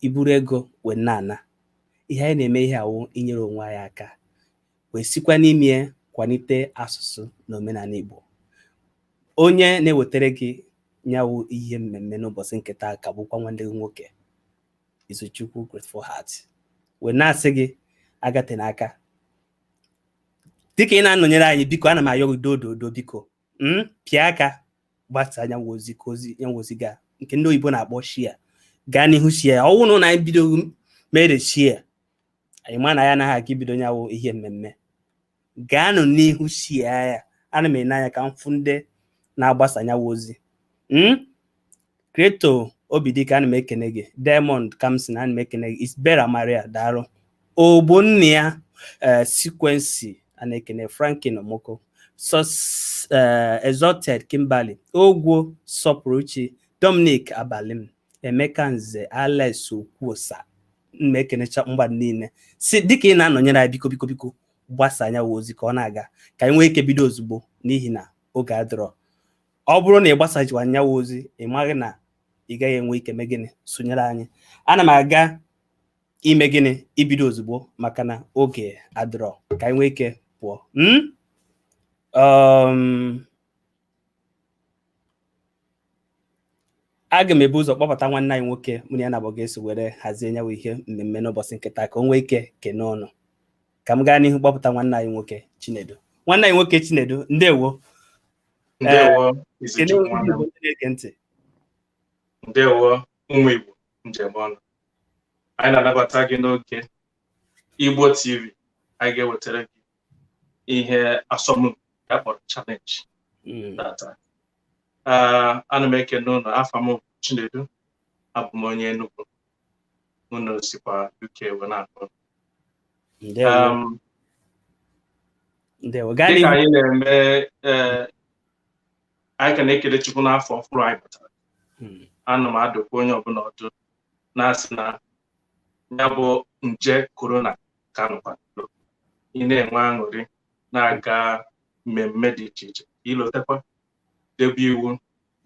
i buru ego wee na-ana ihe anyị na-eme ihe a wụ inyere onwe anyị aka wee sikwa n'ime ya kwanite asụsụ na omenanị Igbo onye na-ewetara gị nyawụ ihe mmemme n'ụbọchị nke taa ka bụkwa nwanne gị nwoke Izuchukwu Grateful Heart wee na-asị gị agate n'aka dịka ị na-anọnyere anyị biko ana m ayọ gị dododo biko mm, pịa aka gbasa nyawụ ozi ka ozi nyawụ ozi gaa nke ndị oyibo na-akpọ share gaa n'ihu share ya ọ wụ na anyị bido mere share anyị ma na anyị na-aga ibido nyawụ ihe mmemme gaanụ n'ihu share ya ana m ene anya ka m fụ ndị na-agbasa nyawụ ozi mm? Creator Obidike ana m ekene gị Diamond Kamson ana m ekene gị Isbera Maria daalụ Ogbonnaya eh, Sequency ana m ekene Franklin Omoko eh, Exalted Kimberly Ogwo Sọpụrụchi Dominic Abalim Emeka Nze Alex Okwuosa ana m ekenecha mmadụ niile si dịka ị na-anọnyere anyị biko biko biko gbasa nyawụ ozi ka ọ na-aga ka anyị nwee ike bido ozugbo n'ihi na oge adịrọ ọ bụrụ na ị gbasaghịkwa nyawụ ozi ị maghị na ị gaghị enwe ike mee gịnị sonyere anyị ana m aga ime gịnị ibido ozugbo maka na oge adịrọ ka anyị nwee ike pụọ hmm? um, aga m ebu ụzọ kpọpụta nwanne anyị nwoke mụ na ya naabọ ga-eso were hazie nyawụ ihe mmemme n'ụbọchị nke taa ka o nwee ike kene unu ka m gaa n'ihu kpọpụta nwanne anyị nwoke Chinedu nwanne anyị nwoke Chinedu ndewo ndewo Izuchukwu nwanne m na-ege ntị ndewo ụmụ Igbo njem ọnụ anyị na-anabata gị n'oge Igbo TV anyị ga-ewetara gị ihe asọmpi a kpọrọ challenge hmm. tata ana m ekene unu afa m bụ Chinedu abụ m onye Enugu unu sikwa UK wee na-akpọ um, dịka anyị na-eme eh, anyị ka na-ekele Chukwu n'afọ ọhụrụ anyị batara hmm. ana m adụkwa onye ọbụla ọdụ na-asị na ya bụ nje korona ka nọkwa ị na-enwe aṅụrị na-aga mmemme dị iche iche i lotakwa debe iwu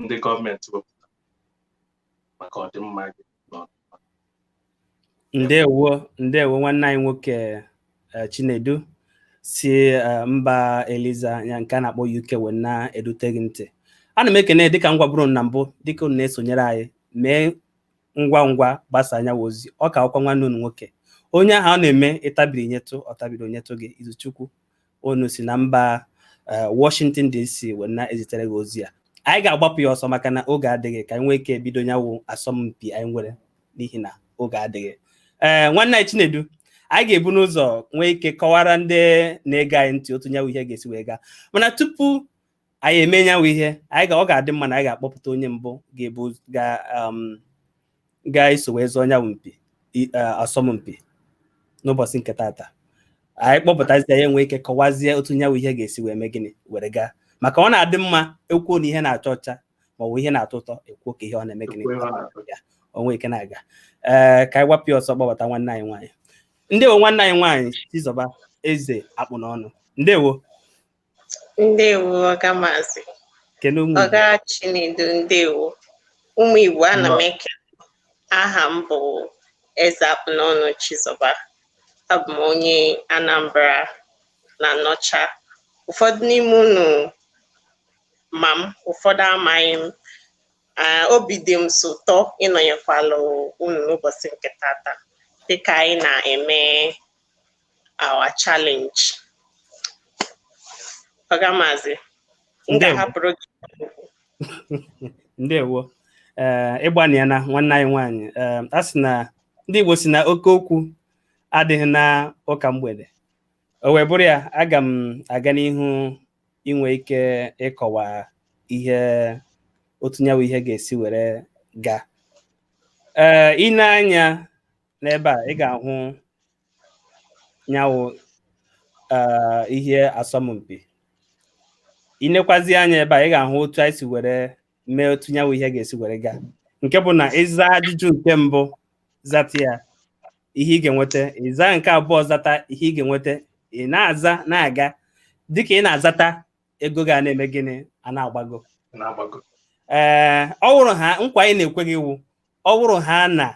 ndị gọọmenti wepụtara maka ọdịmma gị ndewo ndewo nwanne anyị nwoke eh, Chinedu si eh, mba Eliza nke a na-akpọ UK wee na-edute gị ntị ana m ekene dịka m gwaburu unu na mbụ dịka unu na-esonyere anyị mee ngwa ngwa gbasa nyawụ ozi ọ ka wụkwa nwanne unu nwoke onye ahụ ọ na-eme ị tabiri nyetụ ọ tabiri o nyetụ gị izuchukwu unu si na mba eh, Washington DC were na-ezitere gị ozi a anyị ga-agbapụ ya ọsọ maka na oge adịghị ka anyị nwee ike bido nyawụ asọmpi anyị nwere n'ihi na oge adịghị ee eh, nwanne anyị Chinedu anyị ga-ebu n'ụzọ nwee ike kọwara ndị na-ege anyị ntị otu nyawụ ihe ga-esi wee gaa mana tupu anyị eme nyawụ ihe anyị ga ọ ga-adị mma na anyị ga-akpọpụta onye mbụ ga-ebu ga um, ga-eso wee zọọ nyawụ mpi i- eh, asọmpi n'ụbọsị nke tata anyị kpọpụtazie ya nwee ike kọwazie otu nyawụ ihe ga-esi wee mee gịnị were gaa maka ọ na-adị mma e kwuo na ihe na-acha ọcha ma ọ bụ ihe na-atọ ụtọ e kwuo ka ihe ọ na-eme gịnị o nwee ike na-aga ee ka anyị gbapụ ya ọsọ kpọpụta nwanne anyị nwaanyị ndewo nwanne anyị nwaanyị Chizọba Eze Akpụnọnụ ndewo ndewo ọga maazị kene ụmụ ọga Chinedu ndewo ụmụ Igbo ana m ekene aha m bụ Eze Akpụnọnụ Chizọba abụ m onye Anambra n'Anaọcha ụfọdụ n'ime unu ma m ụfọdụ amaghị m Ah, obi dị m sọ ụtọ ịnọnyekwalụ unu n'ụbọsị nke tata dịka anyị na-eme our challenge ọga maazị m ga-ahapụrụ gị ndewo eh, ị gbanịana nwanne anyị nwaanyị eh, a sị na ndị Igbo si na oke okwu adịghị n'ụka mgbede o wee bụrụ ya aga m aga n'ihu inwe ike ịkọwa ihe otu nyawụ ihe ga-esi were gaa ee eh, i nee anya n'ebe a ị ga-ahụ nyawụ eh, ihe asọmpi i nekwazie anya ebe a ị ga-ahụ otu anyị si were mee otu nyawụ ihe ga-esi were gaa nke bụ na ị zaa ajụjụ nke mbụ zata ya ihe ị ga-enweta ị zaa nke abụọ zata ihe ị ga-enweta ị na-aza na-aga dịka ị na-azata ego ga na-eme gịnị a na-agbago ee ọ wụrụ ha nkwa anyị na-ekwe gị wụ ọ wụrụ ha na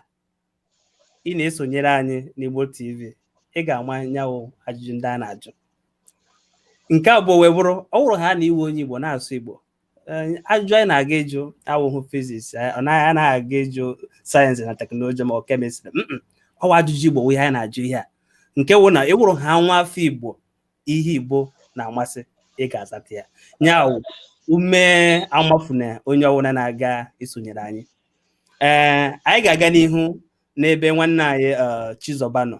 ị na-esonyere anyị n'Igbo TV ị ga-ama nyawụ ajụjụ ndị a na-ajụ nke abụọ wee bụrụ ọ wụrụ ha na ị wụ onye Igbo na-asụ Igbo ajụjụ anyị na-aga ịjụ awụhụ fiziks ọ naghị anaghị aga ịjụ sayensị na teknọlọji ma ọ kemịstrị ọ wụ ajụjụ Igbo ihe anyị na-ajụ ihe a nke wụ na ị wụrụ ha nwa afọ Igbo ihe Igbo na-amasị ị ga-azata ya nyawụ ume amafuna onye ọ wụna na-aga isonyere anyị ee anyị ga-aga n'ihu n'ebe nwanne anyị eh, Chizoba nọ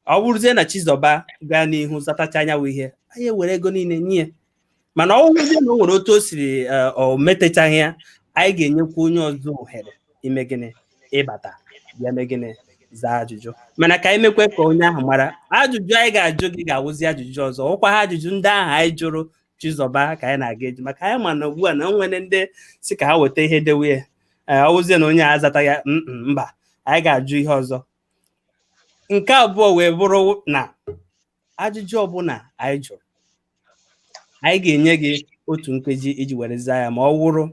ọ bụrụzie na Chizoba gaa n'ihu zatacha nya wụ ihe anyị ewere ego niile nye ya mana ọ bụrụzie na o nwere otu o siri eh, o metachaghị ya anyị ga-enyekwa onye ọzọ ohere ime gịnị ịbata bịa mee gịnị zaa ajụjụ mana ka anyị mekwe ka onye ahụ mara ajụjụ anyị ga-ajụ gị ga-awụzi ajụjụ ọzọ ọkwaghị ajụjụ ndị ahụ anyị jụrụ chizọba ka anyị na-aga eji maka anyị ma na ugbu a na o nwere ndị sị ka ha weta ihe dewe ya ee ọ wụzie na onye a azata ya "Mm, mm, mba anyị ga-ajụ ihe ọzọ nke abụọ wee bụrụ na ajụjụ ọbụla anyị jụrụ anyị ga-enye gị otu nkeji iji were zaa ya ma ọ wụrụ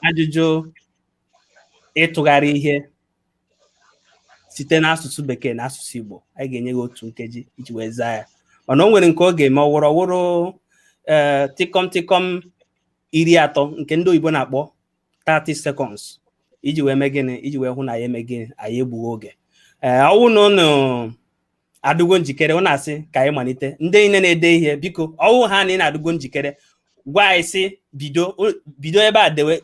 ajụjụ ịtụgharị ihe site n'asụsụ bekee na asụsụ Igbo anyị ga-enye gị otu nkeji iji wee zaa ya mana o nwere nke ọ ga-eme ọwụrụ ọwụrụ ee eh, tịkọm tịkọm iri atọ nke ndị oyibo na-akpọ 30 seconds iji wee mee gịnị iji wee hụ na anyị eme gịnị anyị egbughị oge ee eh, ọwụ na ụnụ adịgo njikere ụnụ asị ka anyị malite ndị niile na-ede ihe biko ọwụ ha na ụnụ adịgo njikere gwa anyị sị bido bido ebe a dewe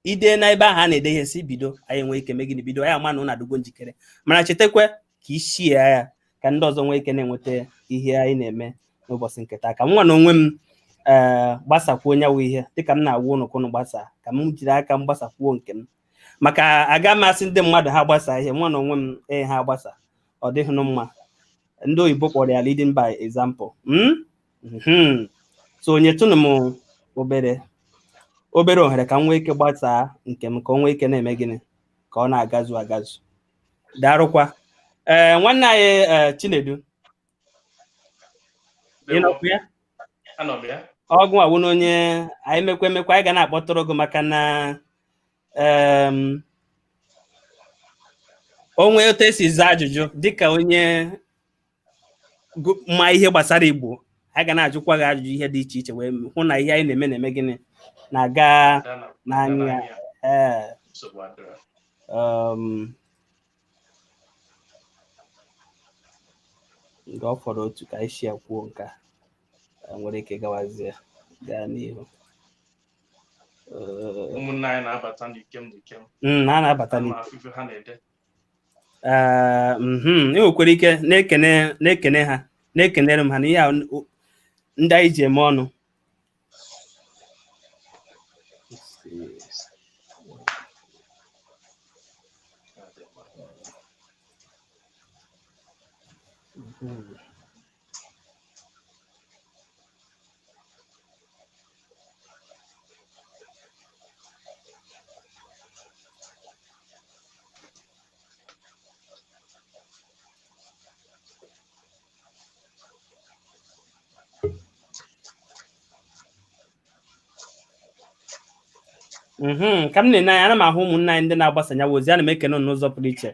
ide na ebe ahụ a na-ede ihe sị bido anyị nwee ike mee gịnị bido anyị ama na ụnụ adịgo njikere mana chetakwa ka i share ya ka ndị ọzọ nwee ike na-enweta ihe anyị na-eme n'ụbọchị nke taa ka m nwa na onwe m ee eh, gbasakwuo nya wụ ihe dịka m na-agwa ụnụ ka ụnụ gbasa ka m jiri aka m gbasakwuo nke m maka aga m asị ndị mmadụ ha gbasa ihe nwa na onwe m ee eh, ha gbasa ọ dịghịnụ mma ndị oyibo kpọrọ ya leading by example hmm? Mhm. so nyetụnụ m obere obere ohere ka m nwee ike gbasaa nke m ka o nwee ike na-eme gịnị ka ọ na-agazu agazu daarụkwa ee nwanne anyị ee, chinedu ị nọkwa ya Anọ m ya. ọ gịnwa wụnụ onye anyị mekwa emekwa anyị ga na-akpọtụrụ gị maka na em, o nwee otu i si aza ajụjụ dịka onye ma ihe gbasara igbo anyị ga na-ajụkwa gị ajụjụ ihe dị iche iche wee hụ na ihe anyị na-eme na-eme gịnị na-aga n'anya ee um, nke ọ fọrọ otu ka anyị si kwuo nke a nwere ike gawazie gaa n'ihu ụmụnne anyị na-abata n'ikem n'ikem hmm, na-anabata n'ikem Ee, mhm, e nwekwara ike na-ekene na-ekene ha na-ekenere m ha n'ihi na ọ ndị anyị ji eme ọnụ Mhm, ka m na-ene anya ana m ahụ ụmụnna anyị ndị na-agbasa nya wụ ozi ana m ekene unu n'ụzọ pụrụ iche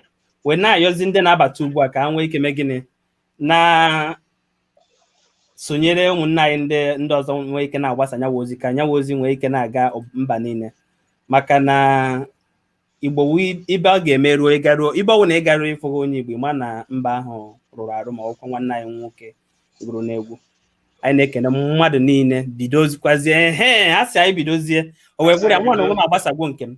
wee na-ayọzi ndị na-abata ugbu a ka ha nwee ike mee gịnị na-sonyere ụmụnna anyị ndị ndị ọzọ nwee ike na-agbasa nya wụ ozi ka nya wụ ozi nwee ike na-aga mba niile maka na igbo ibe ọ ga-eme ruo ị garuo ibe ọ wụna ị garuo ị fụghị onye igbo ma na mba ahụ rụrụ arụ ma ọkwa nwanne anyị nwoke gụrụ n'egwu anyị na-ekene mmadụ niile bidozikwazie ehe a sị anyị bidozie o wee gwụrụ mụ nwa na onwe m agbasagwo nke m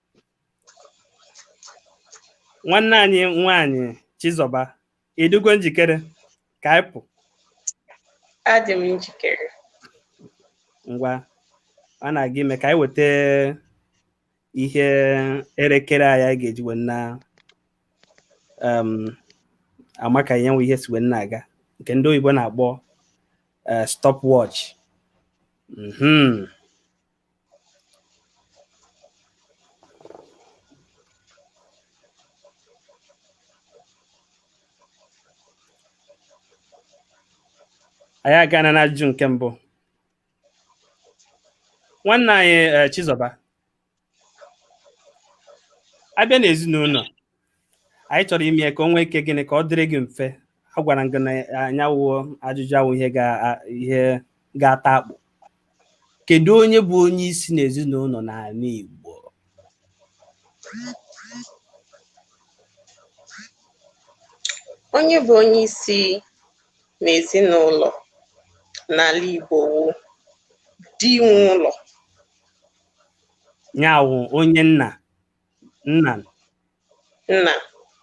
nwanne anyị nwaanyị Chizọba ị dịgo njikere ka anyị pụ adị m njikere ngwa a na-aga ime ka anyị weta ihe elekere anyị anyị ga-eji wee na um, ama ka nya wụ ihe si wee na-aga nke ndị oyibo na-akpọ eh, stopwatch Mhm. anyị agana n'ajụjụ nke mbụ nwanne anyị eh, Chizọba abịa n'ezinụlọ anyị chọrọ ime ya ka o nwee ike gịnị ka ọ dịrị gị mfe agwara m gị na nya wụ ajụjụ awụghị ihe ga a- ihe ga-ata akpụ kedu onye bụ onye isi n'ezinụlọ n'ala Igbo Onye bụ onye isi n'ezinụlọ n'ala Igbo wụ di nwe ụlọ. nya wụ onye nna Nna. Nna.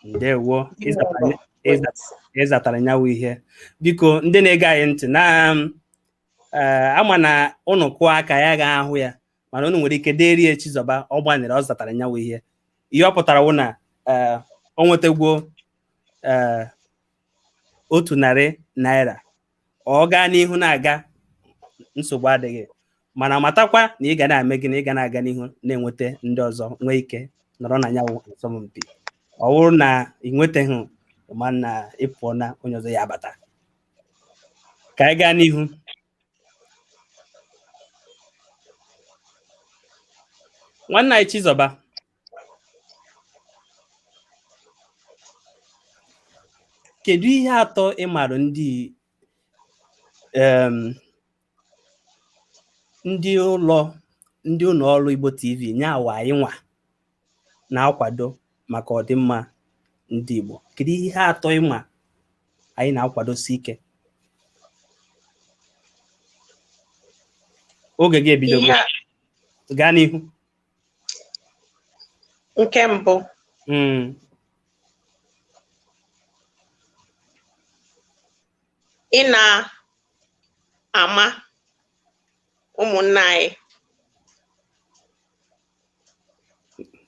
Ndewo. Ị zatara nya wụ ihe. Biko ndị na-ege anyị ntị na eh, ama na ụnụ kụọ aka ya ga ahụ ya mana ụnụ nwere ike deri ya Chizọba ọ gbanịrị ọ zatara nya wụ ihe. Ihe ọ pụtara wụ na eh, o nwetagwo eh, otu narị naira ọ gaa n'ihu na-aga nsogbu adịghị mana matakwa na ihe ga na-eme gị na ị ga na-aga n'ihu na-enweta ndị ọzọ nwee ike nọrọ na nya wụ asọmpi ọ wụrụ na ị nwetaghị ma na ị pụọna onye ọzọ ya abata ka anyị gaa n'ihu nwanne anyị Chizọba Kedu ihe atọ ị maara ndị um, ndị ụlọ ndị ụlọ ọrụ Igbo TV nya wụ anyị nwa na-akwado maka ọdịmma ndị Igbo? Kedu ihe atọ ị ma anyị na-akwadosi ike? Oge gị ebidogo. Ihe a- Gaa n'ihu. nke mbụ Mm. ị na-ama ụmụnna anyị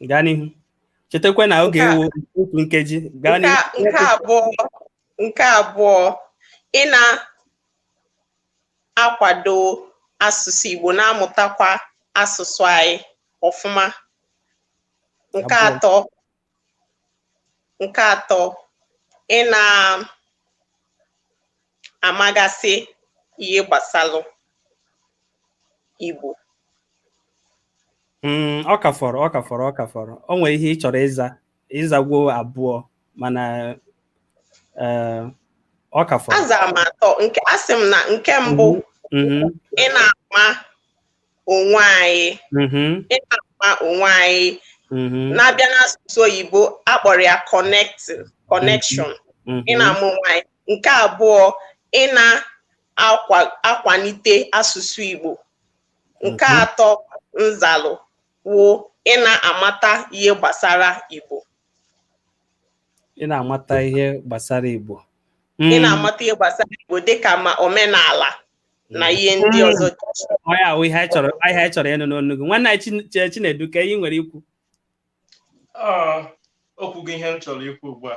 gaa n'ihu chetakwa na Nke a- ọ ga-ewe otu nkeji gaa nke n'ihu a- nke abụọ nke abụọ ị na akwado asụsụ Igbo na-amụtakwa asụsụ anyị ọfụma nke atọ nke atọ ị na-amagasị ihe gbasalụ Igbo hmm, ọ ka fọrọ ọ ka fọrọ ọ ka fọrọ o nwere ihe ị chọrọ ịza ị zagwo abụọ mana eh, ọ ka fọrọ azara m atọ nke asị m na nke mbụ Mhm, ị na-ama onwe anyị mhm, ị na-ama onwe anyị mhm, na a bịa n'asụsụ oyibo a kpọrọ ya connect connection mhm. ị na-ama onwe anyị nke abụọ ị na-akwalite asụsụ Igbo nke Mhm. atọ m zalụ wụ ị na-amata ihe gbasara Igbo ị na-amata ihe gbasara Igbo ị hmm. na-amata ihe gbasara Igbo dịka ma omenala na hmm. ihe ndị hmm. ọzọ ya wụ ihe anyị chọrọ ịnụ n'ọnụ gị nwanne anyị Chinedu ka ihe i nwere ikwu okwu gị ihe m chọrọ ikwu ugbu a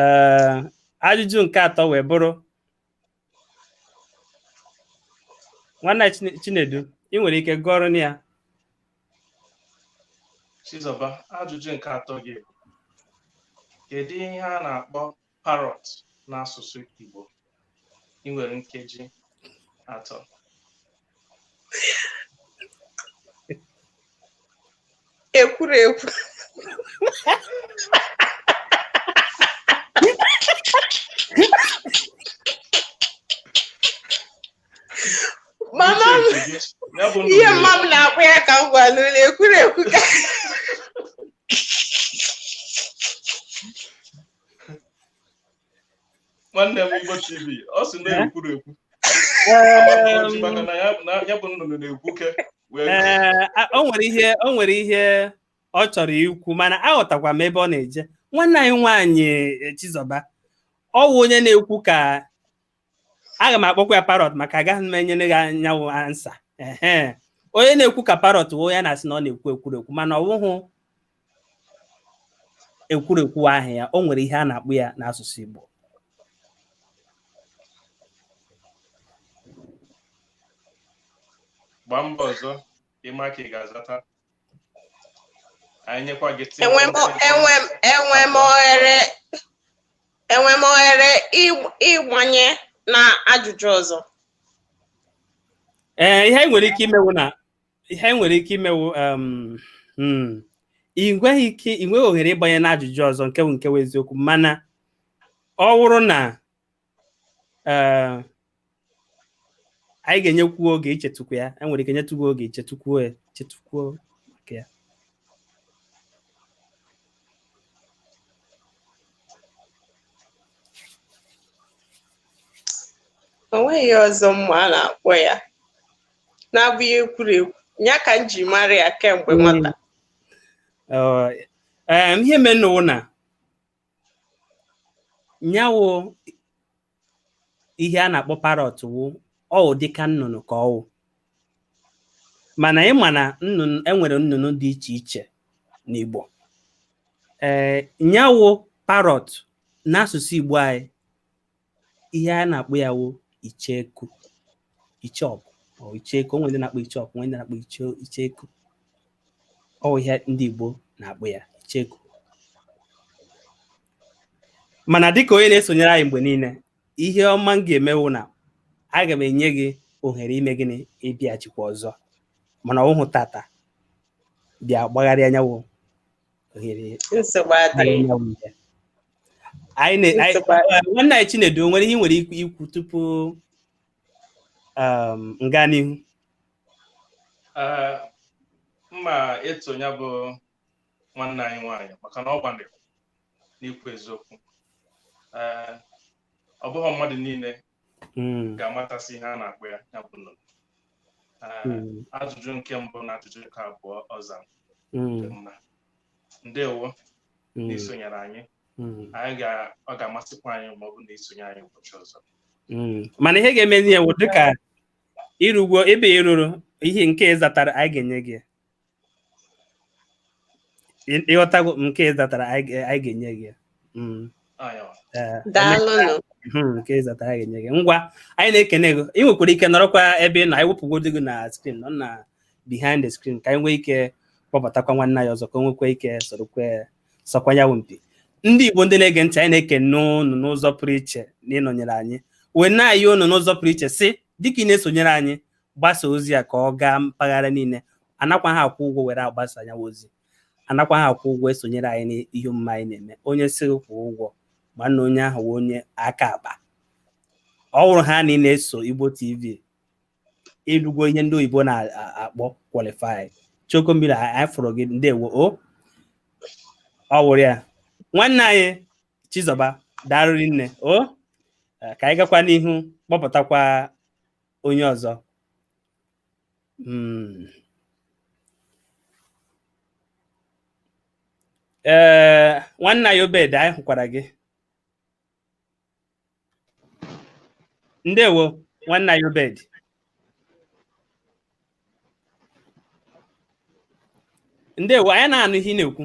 ee ajụjụ nke atọ wee bụrụ nwanne Chine- Chinedu ị nwere ike gụọrọ m ya Chizọba ajụjụ nke atọ gị bụ, kedu ihe a na-akpọ parrot n'asụsụ Igbo ị nwere nkeji atọ ekwuru ekwu mama m ya bụ ihe ndị mma m na-akpọ ya ka m gwa unu ekwuru ekwu ka nwanne m igbo tv ọ sị na ekwurekwu Ọjị maka na ya na ya bụ nnụnụ na-ekwu ke wee Ee, a- o nwere ihe o nwere ihe ọ chọrọ ikwu mana aghọtakwa m ebe ọ na-eje nwanne anyị nwaanyị eh, Chizoba ọ wụ onye na-ekwu ka aga m akpọkwa ya parrot maka agaghị m enyere gị nya wụ ansa ehe onye na-ekwu ka parrot wụ ya na-asị na ọ na-ekwu ekwurekwu mana ọ wụhụ ekwurekwu wụ aha ya o nwere ihe a na-akpọ ya n'asụsụ Igbo gbaa mbọ ọzọ ịma ka ị ga-azata anyị nyekwa gị tii enwe m o- enwe m enwe m ohere enwe m ohere ịgb- ịgbanye na ajụjụ ọzọ ee ihe anyị nwere ike ime wụ na ihe anyị nwere ike ime wụ um, mm, ị nweghị ike ị nweghị ohere ịgbanye n'ajụjụ ọzọ nke bụ nke bụ eziokwu mana ọ wụrụ na eh, anyị ga-enyekwu oge ichetụkwu ya enwere ike nyetụ gị oge ị chetụkwuo ya chetụkwuo maka ya o nweghị aha ọzọ m ma a na-akpọ ya na-abụghị ekwurekwu ya ka m ji mara ya kemgbe nwata ihe mere na nya wụ ihe a na-akpọ parrot wụ ọ wụ dịka nnụnụ ka ọ wụ mana ị ma na nnụnụ enwere nnụnụ dị iche iche n'Igbo ee nya wụ parrot n'asụsụ Igbo anyị ihe a na-akpọ ya wụ icheku icheoku icheku o nwe ndị na-akpọ icheoku o nwe ndị na-akpọ icheku ọ wụ ihe ndị Igbo na-akpọ ya icheku mana dịka onye na-esonyere anyị mgbe niile ihe ọma m ga-eme wụ na aga m enye gị ohere ime gịnị ịbịachikwa ọzọ mana ọ wụhụ tata bịa gbagharịa nya wụ ohere nsogbu anyị adịghị na-enye m ya. Anyị na- anyị- Nsogbu adịghị. eh, nwanne anyị Chinedu o nwere ihe ị nwere ikwu- ikwu tupu um, m gaa n'ihu Ee, m ma eto ya bụ nwanne anyị nwaanyị maka na ọ gbalịrị n'ikwu eziokwu Ee, ọ bụghị mmadụ niile hmm. ga-amatasị ihe a na-akpọ ya ya bụ nnụnụ hmm. ajụjụ nke mbụ na ajụjụ nke abụọ ọ dị mma ndewo n'isonyere anyị anyị ọ ga-amasịkwa anyị ma ọ bụ na i sonye anyị ụbọchị ọzọ mana ihe ga-emezi ya wụ dịka i rugwo ebe i ruru ihe nke ị zatara anyị ga-enye gị ị ghọtago nke ị zatara anyị ga-enye gị hmm. eh, daalụnụ hmm, nke ị zatara anyị ga-enye gị ngwa anyị na-ekene gị ị nwekwara ike nọrọkwa ebe ị nọ anyị wepụgodo gị na screen nọ na behind the screen ka anyị nwee ike kpọbatakwa nwanne anyị ọzọ ka o nwekwa ike sorokwa sọkwa ya mpi ndị Igbo ndị na-ege ntị anyị na-ekene ụnụ n'ụzọ pụrụ iche na ịnọnyere anyị wee na-ayọ ụnụ n'ụzọ pụrụ iche sị dịka ị na-esonyere anyị gbasaa ozi a ka ọ gaa mpaghara niile anakwaha akwụ ụgwọ were agbasa nya wụ ozi anakwaha akwụ ụgwọ esonyere anyị n'ihe omume anyị na-eme onye sị kwụọ ụgwọ ma na onye ahụ wụ onye aka akpa ọ wụrụ ha na ị na-eso Igbo TV i lugo ihe ndị oyibo na-akpọ qualify choko mmiri anyị fụrụ gị ndewo o ọ wụrụ ya nwanne anyị Chizọba daalụ rinne o ka anyị gakwa n'ihu kpọpụtakwa onye ọzọ hmm. ee eh, nwanne anyị obed anyị hụkwara gị ndewo nwanne anyị obed ndewo anyị na-anụ ihe ị na-ekwu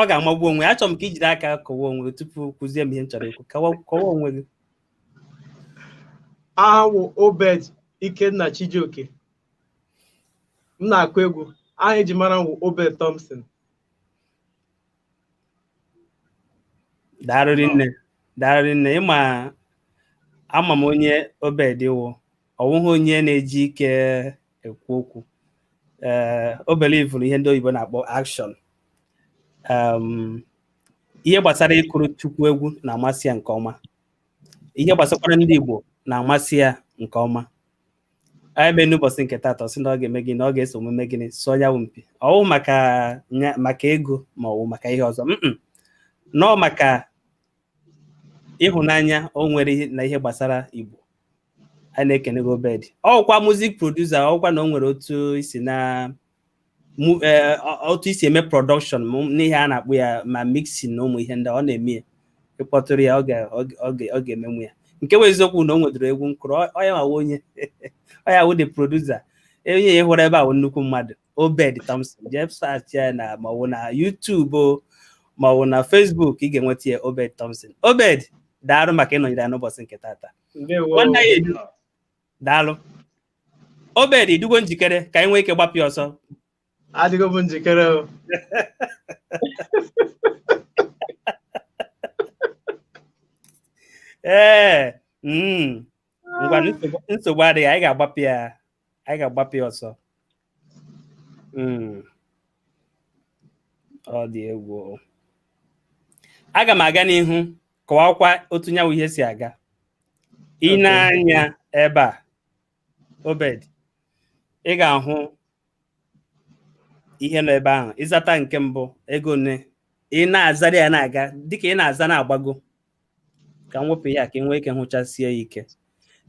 ọ ga-amagbu onwe achọrọ m ka i jiri aka kọwa onwe gị tupu kwuzie m ihe m chọrọ ikwu kọwa onwe gị awụ m obed ikenna chijioke m na-akụ egwu aha eji mara m wụ obed thompson daalụ rinne daalụ rinne ị ma ama m onye obed wụ ọ wụghị onye na-eji ike ekwu okwu ee eh, o belivụrụ ihe ndị oyibo na-akpọ action um, ihe gbasara ịkụrụ Chukwu egwu na-amasị ya nke ọma ihe gbasakwara ndị Igbo na-amasị ya nke ọma ya mere n'ụbọchị nke taata ọ sị na ọ ga-eme gịnị na ọ ga-eso mee gịnị sọọ nya wụ mpi ọwụ maka maka ego ma ọwụ maka ihe ọzọ no ọ maka ịhụnanya o nwere na ihe gbasara Igbo anyị na-ekene gị obed ọ wụkwa music producer ọ wụkwa na o nwere otu isi na mu- eh, ọ- otu isi eme production mụ- n'ihe a na-akpọ ya ma mixing na ụmụ ihe ndị ọ na-eme ya ị kpọtụrụ ya ọ ga- ọ ga- ọ ga- ọ ga-emenwu ya nke bụ eziokwu na o nwedoro egwu m kụrụ ọ- ọ ya nwa wụ onye ọ ya wụ the producer onye a ị hụrụ ebe a wụ nnukwu mmadụ obed thompson jee search ya na maọbụ na youtube o, maọbụ na facebook ị ga-enweta ya obed thompson obed daalụ maka ịnọnyere anyị n'ụbọchị nke taata ndewo Nwanne anyị edu. daalụ Obed ịdịgo njikere ka anyị nwee ike gbapịa ọsọ adịgo m njikere o ee mm, ngwa nsogbu- nsogbu adịghị anyị ga-agbapịa anyị ga-agbapịa ọsọ Hmm. ọ dị egwu aga m aga n'ihu kọwakwa otu nya wụ ihe si aga ị nee anya ebe a obed ị ga-ahụ ihe nọ ebe ahụ ịzata nke mbụ ego one ị na-azara ya na-aga dịka ị na-aza na-agbago ka m wepụ ya ka ị nwee ike hụchasie ike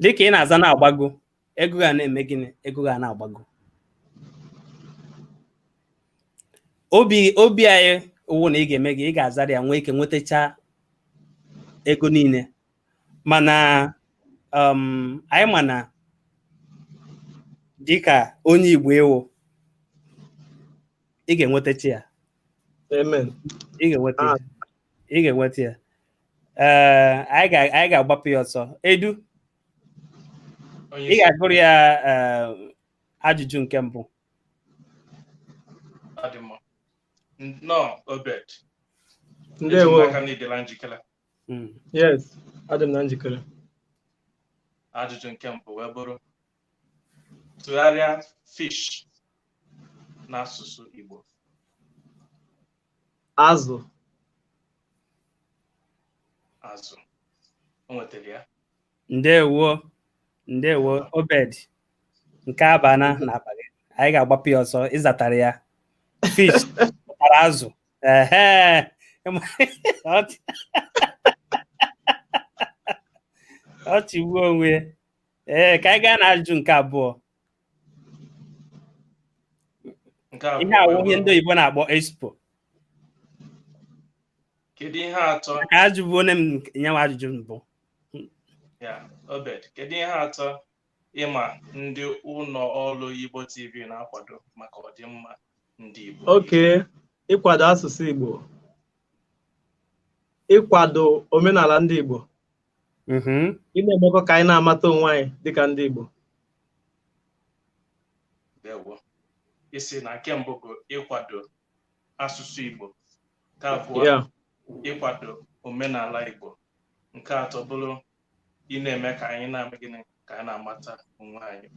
dịka ị na-aza na-agbago ego ga na-eme gịnị ego ga na-agbago obi obi anyị wụ na ị ga-eme gị ị ga-azara ya nwee ike nwetacha ego niile mana um, anyị ma na dịka onye Igbo ị wụ ị ga-enwetacha ya ị ga-enweta ya ị ga-enweta ya ee eh, anyị ga-agbapụ ya ọsọ edu ị ga-agụrụ ya eh, ajụjụ nke mbụ nnọọ obed ndewo aka na ịdịla njikere hmm. yes adị m na njikere ajụjụ nke mbụ wee bụrụ tụgharịa fish n'asụsụ igbo azụ azụ o nwetara ya ndewo ndewo obed nke a abana na bag anyị ga-agbapụ ya ọsọ ịzatara ya fish pụtara azụ ehe Ọchị- ọchị gbuo onwe ya. ee ka anyị gaa na ajụjụ nke abụọ Nke a ihe a wụ ihe ndị oyibo na-akpọ expo kedu ihe atọ ka ajụbụ onye m nyewa ajụjụ mbụ ya obed kedu ihe atọ ị ma ndị ụlọ ọrụ igbo tv na-akwado maka ọdịmma ndị igbo okay ịkwado asụsụ igbo ịkwado omenala ndị igbo mhm. ị na-emekọ ka anyị na-amata onwe anyị dịka ndị Igbo ndewo ị sị na nke mbụ bụ ịkwado asụsụ Igbo nke abụọ Yeah. ịkwado omenala Igbo nke atọ bụrụ ị na-eme ka anyị na-eme gịnị ka anyị na-amata onwe anyị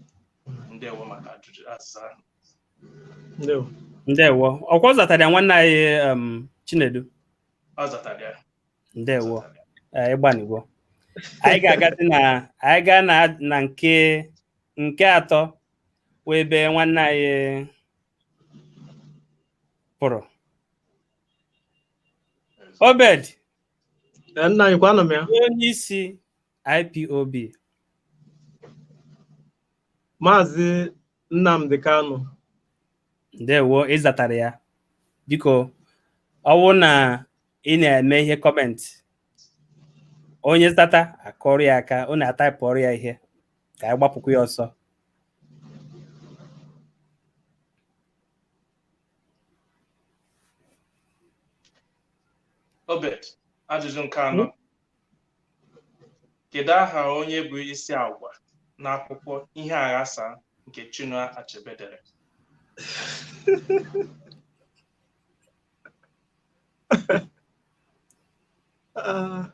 ndewo maka ajụjụ azịza ahụ ndewo ndewo ọkwa ọ zatara ya nwanne anyị em, chinedu ọ zatara ya ndewo Eh, ị gbanigo anyị ga-agazi na anyị gaa na na nke nke atọ bụ ebe nwanne anyị pụrụ Obed Ee, nna anyị kwa anọ m ya onye isi IPOB maazị Nnamdi Kanu. Ndewo ị zatara ya biko ọ wụrụ na ị na-eme ihe comment onye zata a kụọrọ ya aka na a taịpụọrọ ya ihe ka anyị gbapụkwa ya ọsọ Obed, ajụjụ nke anọ. Kedu aha onye bụ isi agwa n'akwụkwọ Ihe Aghasa nke Chinua Achebe dere? Ah.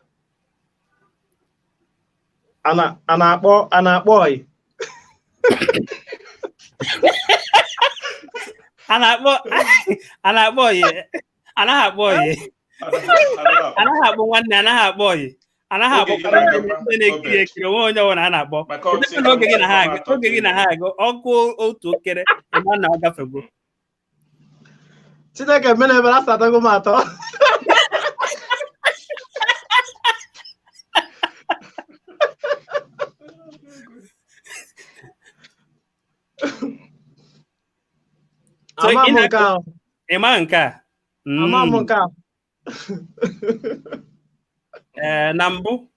a na- a na-akpọ a na-akpọ ọyị a na-akpọ a na-akpọ ya anaghị akpọ ọyị anaghị akpọ nwanne anaghị akpọ ọyị anaghị akpọ ndị na-ekiri ekiri o nwe onye ọbụla a na-akpọ oge gị na-aga oge gị na-aga ọkụ otu okere ị ma na ọ gafego Chineke mena ebere azatago m atọ So Ama ị m na- nke ahụ. ị maghị nke a Mm. Ama m nke ahụ. Ee, na mbụ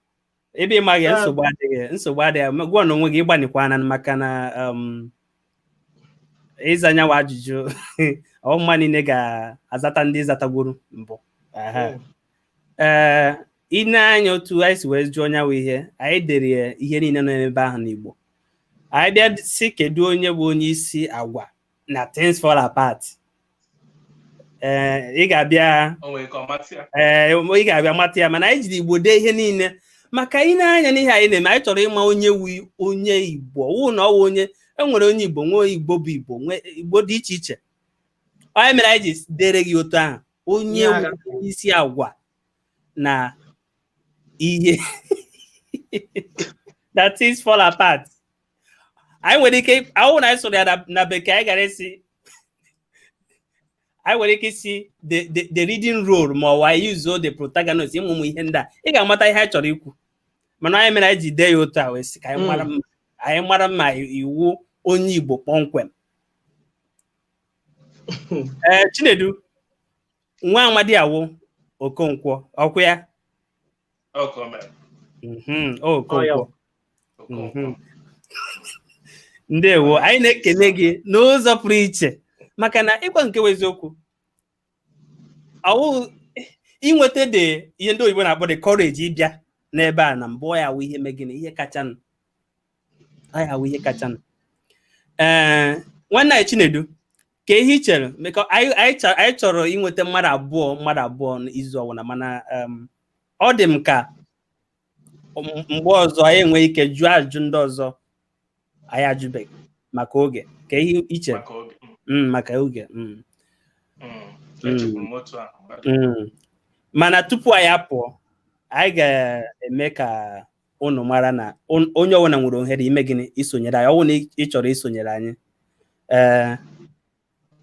ebe ị maghị ya, Ee. nsogbu adịghị nsogbu adịghị Ma gwa na onwe gị ị gbanikwana maka na um, ịza nya nwa ajụjụ ọ mmadụ niile ga-azata ndị ị zatagwuru mbụ Aha. ee i nee anya otu anyị si wee jụọ nya nwa ihe anyị dere ya ihe niile nọ n'ebe ahụ n'Igbo anyị bịa sị kedu onye bụ onye isi agwa na things fall apart ee ị ga-abịa O nwere ka ọ mata ya. ee ị ga-abịa mata ya mana anyị jiri Igbo dee ihe niile maka i nee anya n'ihe anyị na-eme anyị chọrọ ịma onye wu onye Igbo wụ na ọ wụ onye e nwere onye Igbo nwee Igbo bụ Igbo nwee Igbo dị iche iche ọ nya mere anyị ji deere gị otu ahụ onye isi agwa na ihe that things fall apart anyị nwere ike ọ wụ na anyị sụrụ ya na bekee anyị gara asị anyị nwere ike ịsị the leading role ma ọ wụ anyị yuzuo the protagonist ụmụ ihe ndị a ị ga-amata ihe anyị chọrọ ikwu mana nya mere anyị ji dee ya otu a wee sị ka anyị mara hmm. ma ị wụ onye Igbo kpọmkwem ee eh, Chinedu nwa amadi a wụ Okonkwo ọkwa ya mhm, Okonkwo mhm. ndewo anyị na-ekele gị n'ụzọ pụrụ iche maka na ịgwa nke eziokwu ọ wụ inweta the ihe ndị oyibo na-akpọ the courage ịbịa n'ebe a na mbụ ọ ya wụ ihe mee gịnị ihe kachanụ ọ ya wụ ihe kachanụ ee nwanne anyị chinedu ka ihe ị chere mekọ anyị anyị chọ- anyị chọrọ inweta mmadụ abụọ mmadụ abụọ n'izu ọwụla mana em, ọ dị m ka mgbe ọzọ anyị enwee ike jụọ ajụjụ ndị ọzọ anyị ajụbeghị maka oge ka ihe ị chere maka oge mana tupu anyị apụọ anyị ga-eme ka unu mara na onye ọwụla nwere ohere ime gịnị isonyere anyị ọ wụ na ị chọrọ isonyere anyị ee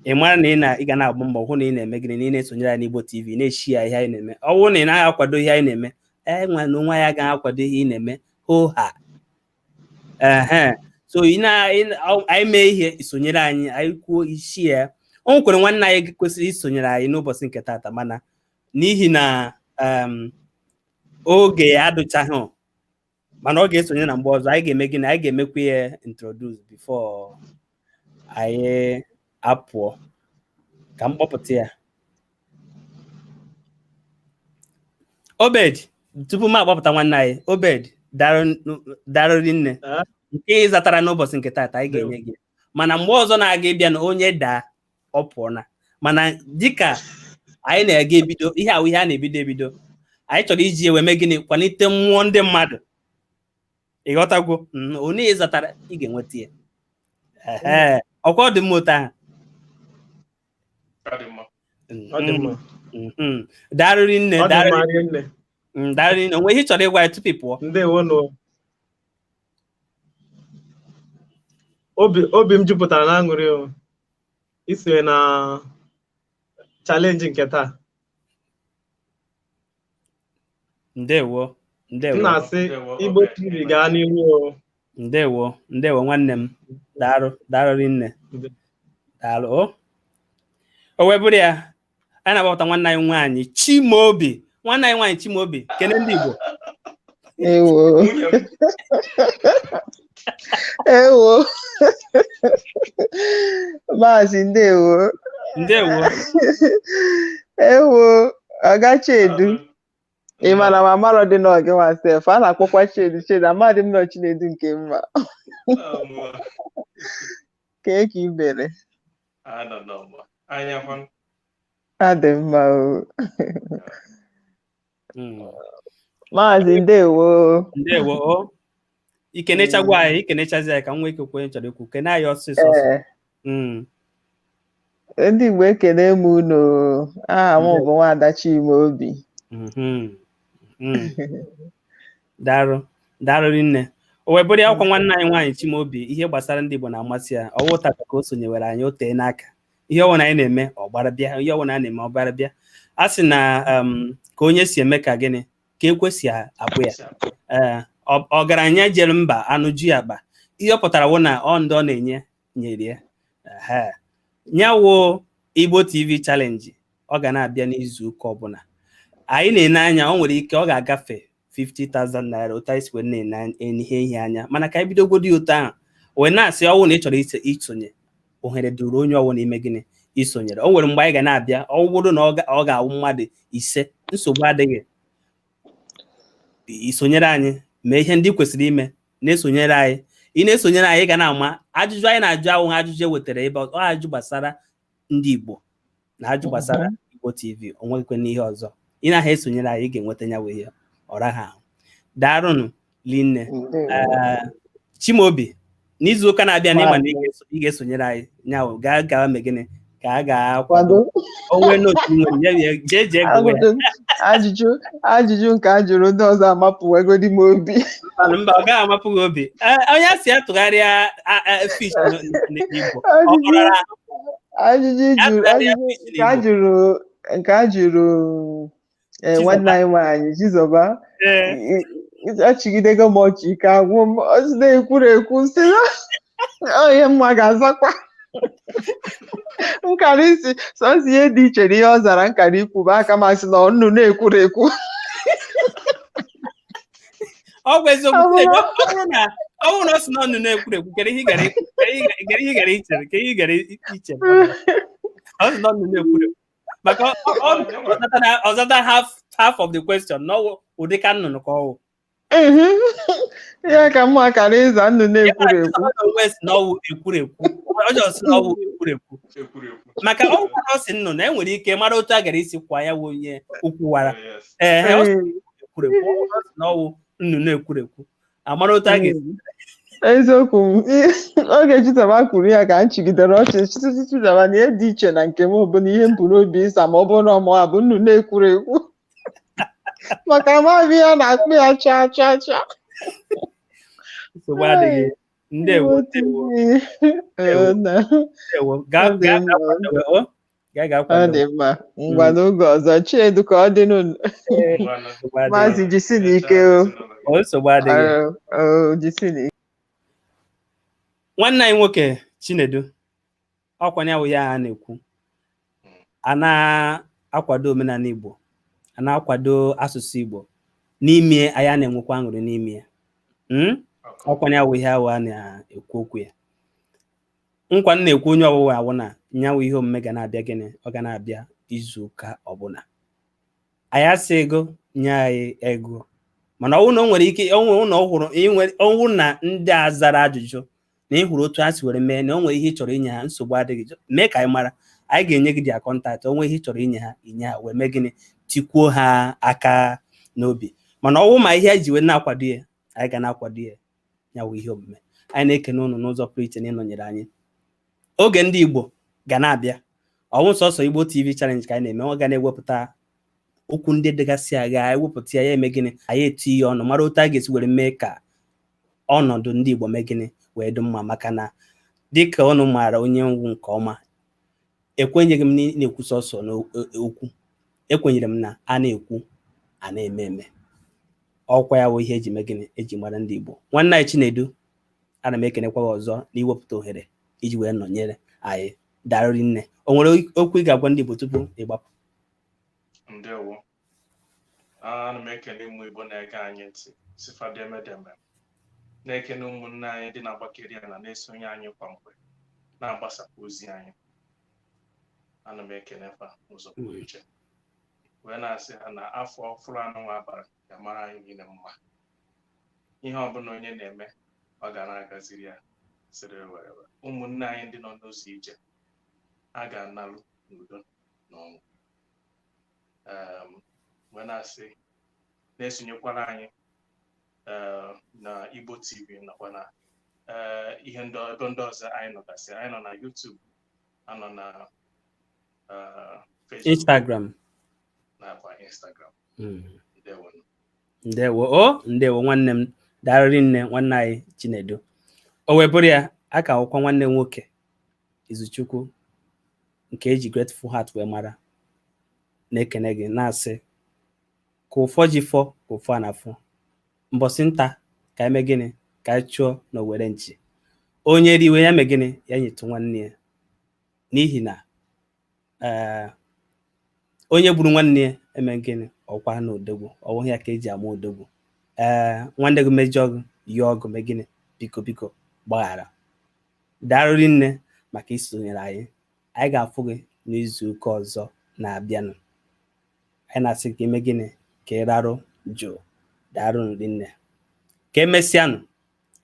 ị mara na ị na ị ga na-agba mbọ hụ na ị na-eme gịnị na ị na-esonyere anyị n'Igbo TV na-eshare ihe anyị na-eme ọ bụrụ na ị naghị akwado ihe anyị na-eme anyị nwa n'onwe anyị agaghị akwado ihe ị na-eme hoo ha ehe so ị na ị na- ọ- anyị mee ihe i sonyere anyị anyị kwuo i share o nwekwara nwanne anyị kwesịrị isonyere anyị n'ụbọchị nke taata mana n'ihi na em, oge adụchaghị mana ọ ga-esonye na mgbe ọzọ anyị ga-eme gịnị anyị ga-emekwa ya introduce before anyị apụọ ka m kpọpụta ya obed tupu m akpọpụta nwanne anyị obed daalụ rinne nke ị zatara n'ụbọchị nke taata anyị ga-enye gị mana mgbe ọzọ na-aga ịbịa na onye daa ọ pụọ na mana dịka anyị na-aga ebido ihe a wụ ihe na-ebido ebido anyị chọrọ iji wee mee gịnị kwalite mmụọ ndị mmadụ ị ghọtagwo mm, onye ị zatara ị ga-enweta ya Ehe, ọkwa ọ dị mma otu ahụ Ọ dị mma. Mm, ọ dị mma mm, mm. daalụ rinne ọ dị daalụ mma rinne mm, daalụ rinne o nwe ihe ị chọrọ ịgwa anyị tupu ị pụọ ndewo nụ obi obi m jupụtara n'aṅụrị o isonye na challenge nke taa ndewo m ndewo na-asị igbo tv gaa n'ihu o. ndewo ndewo nwanne m daalụ daalụ rinne Ndewo. daalụ o o wee bụrụ ya anyị na-akpọpụta nwanne anyị nwaanyị Chimaobi nwanne anyị nwaanyị Chimaobi kene ndị Igbo ewo ewo maazị ndewo ndewo ewo oga Chinedu ị mara na amarọdị na ọ gị nwa sef a na-akpọkwa Chinedu Chinedu Amadi m nọ chinedu nke mma kee ka ị mere adị mma hmm. maazị ndewo ndewo i kenechago anyị i kenechazie anyị ka m nwee ike kwuo ihe m chọrọ ikwu kene anyị ọsịsọ eh. hmm. ndị Igbo ekene m unu aha m bụ nwaada Chimaobi hmm. daalụ daalụ rinne o wee bụrụ ya wụkwa nwanne anyị nwaanyị Chimaobi ihe gbasara ndị Igbo na-amasị ya ọ wụghị taa ka o sonyewere anyị o teena aka ihe ọwụna anyị na-eme ọ gbara bịa ihe ọwụna a na-eme ọ gbara bịa a sị na um, ka onye si eme ka gịnị ka e kwesị abụ ya ee ọgaranya jere mba a nụju ya akpa ihe ọ pụtara wụ na ọ ndị ọ na-enye nyere ya nya wụ Igbo TV challenge ọ ga na-abịa n'izu ụka ọbụla anyị na-ene anya ọ nwere ike ọ ga-agafe 50,000 naira otu anyị si wee na-ene ihe ihe anya mana ka anyị bidogodi ya otu ahụ wee na-asị ọ wụ na ị chọrọ isonye ohere dụụrụ onye ọwụna ime gịnị isonyere o nwere mgbe anyị ga na-abịa ọ bụrụ na ọ ga-awụ mmadụ ise nsogbu adịghị isonyere anyị mee ihe ndị kwesịrị ime na-esonyere anyị ị na-esonyere anyị ị ga na-ama ajụjụ anyị na-ajụ ọ wụghị ajụjụ e wetara ebe ọ ajụjụ gbasara ndị Igbo na ajụjụ gbasara Igbo TV o nwekwene ihe ọzọ ị na-aha esonyere anyị ị ga-enweta ya wee ọra ha ahụ daarụnụ linne Chimaobi n'izu ụka na-abịanị ị ma na ị ga-esonyere anyị nya wụ gaa gawa mee gịnị ka a ga-akwado onwe n'otu nwere jee jee ajụjụ ajụjụ nke a jụrụ ndị ọzọ amapụwegodi m obi mba ọ gaghị amapụ gị obi onye a sị ya tụgharịa fish n'Igbo ajụjụ nke a jụrụ ee nwanne anyị nwaanyị Chizoba achịgidego m ọchị ike agwụ m ọ sị na ekwurekwu sị na ihe mụwa ga-azakwa m kara ịsị sọsọ ihe dị iche na ihe ọ zara m kara ikwu bụ aka m asị na ọ nnụnụ ekwurekwu ọ bụ eziokwu ọ bụrụ na ọ bụrụ na ọ sị na ọ nnụnụ ekwurekwu kere ihe ị gara ikwu kere ihe ị gara ichere kere ihe ị gara ichere ọ sị na ọ nnụnụ ekwurekwu maka ọ zata half half of the question n'ọwụ ụdị ka nnụnụ ka ọwụ ya ka mụwa kara ịza nnụnụ ekwurekwu n'ọwụ ekwurekwu ọjọọ sị n'ọwụ ekwurekwu maka ọwụ ka ọ sị nnụnụ e nwere ike mara otu a gara isi kwa ya wụ onye o kwuwara ee ekwurekwu n'ọwụ nnụnụ ekwurekwu amara otu a ga-esi eziokwu m oge chitaba kwuru ya ka m chịgidere ọchị chitụtụ chitaba na ihe dị iche na nke m bụ na ihe m bu n'obi ịsa ma ọ bụrụ na ọ mụwa bụ nnu na-ekwuru ekwu maka amaghị m ya na-akpụ ya chaa chaa chaa nsogbu adịghị ndewo ndewo Ee, na- ndewo gaa Ọ dị gaa mma. gaa kwadowe o Gaa gaa ọ kwado. dị mma ngwa Mm. n'oge ọzọ chinedu ka ọ dị n'ụlọ Ee, Ngwanụ. nsogbu adịghị. maazị jisi na ike o O, nsogbu adịghị. Ọ- ọ, jisi na ike nwanne anyị nwoke chinedu ọkwa ya wụ ihe a na-ekwu a na-akwado omenala igbo a na-akwado asụsụ igbo n'ime ya anyị na-enwekwa aṅụrị n'ime ya Mm? ọkwa ya wụ ihe ahụ a na-ekwu okwu ya nkwa m na-ekwe onye ọwụla wụ na ya wụ ihe omume ga na-abịa gịnị ọ ga na-abịa izu ụka ọbụla anyị asịghị gị nye anyị ego mana ọ wụ na o nwere ike ọ wụ na ọ hụrụ ọ wụ na ndị a zara ajụjụ na ị hụrụ otu a si were mee na o nwere ihe ị chọrọ inye ha nsogbu adịghị mee ka anyị mara anyị ga-enye gị their contact o nwee ihe ị chọrọ inye ha i nye ha wee mee gịnị tikwuo ha aka n'obi mana ọ wụ ma ihe ji wee na-akwado ya anyị ga na-akwado ya ya wụ ihe omume anyị na-ekene ụnụ n'ụzọ pụrụ iche na ịnọnyere anyị oge ndị Igbo ga na-abịa ọ wụghị sọsọ Igbo TV challenge ka anyị na-eme ọ ga na-ewepụta okwu ndị dịgasị agha ewepụta ya ya eme gịnị anyị etinye ọnụ mara otu a ga-esi were mee ka ọnọdụ ndị Igbo mee gịnị wee dị mma maka na dịka ọnụ maara onye m wụ nke ọma ekwenyeghị m na-ekwu sọsọ n'okwu e, ekwenyere m na a na-ekwu a na-eme eme ọkwa ya wụ ihe e ji mee gịnị e ji mara ndị Igbo nwanne anyị Chinedu ana m ekenekwa gị ọzọ na iwepụta ohere iji wee nọnyere anyị daalụ rinne o nwere okwu ị ga-agwa ndị Igbo tupu ị gbapụ ndewo ana m ekene ụmụ Igbo na-ege anyị ntị sị fa deme deme na-ekene ụmụnne anyị dị na-agbakeri ya na na-esonye anyị kwa mgbe na-agbasapụ ozi anyị ana m ekenekwa n'ụzọ pụrụ iche wee na-asị ha na afọ ọfụrụ anụnwa a bara ga-amara anyị niile mma ihe ọbụla onye na-eme ọ ga na-agaziri ya sịrị werere ụmụnne anyị ndị nọ n'ụzọ ije a ga-analụ n'udo na ọṅụ Em, wee na-asị na-esonyekwara anyị eh, na Igbo TV nakwa na eh, ihe ndị ebe ndị ọzọ anyị nọgasị anyị nọ na YouTube a nọ na Instagram nakwa Instagram hmm. ndewo o oh, ndewo nwanne m daarụ rinne nwanne anyị Chinedu o wee bụrụ ya a ka wụkwa nwanne m nwoke Izuchukwu nke eji Grateful Heart wee mara na-ekene gị na-asị ka ụfọ ji fọ ka ụfọ a na-afọ mbọsị nta ka anyị mee gịnị ka anyị chụọ na owere nchi onye riwe ya mee gịnị ya nyetụ nwanne ya n'ihi na eh, onye gburu nwanne ya eme gịnị ọkwa na odogwu ọ wụghị ya ka eji ama odogwu ee eh, nwanne gị mejọọ gị yọọ gị mee gịnị biko biko gbaghara daarụ rinne maka isonyere anyị anyị ga-afụ gị n'izu ụka ọzọ na-abịanụ anyị na-asị ka i mee gịnị ka ị rarụ jụụ daarụnụ rinne ka emesịanụ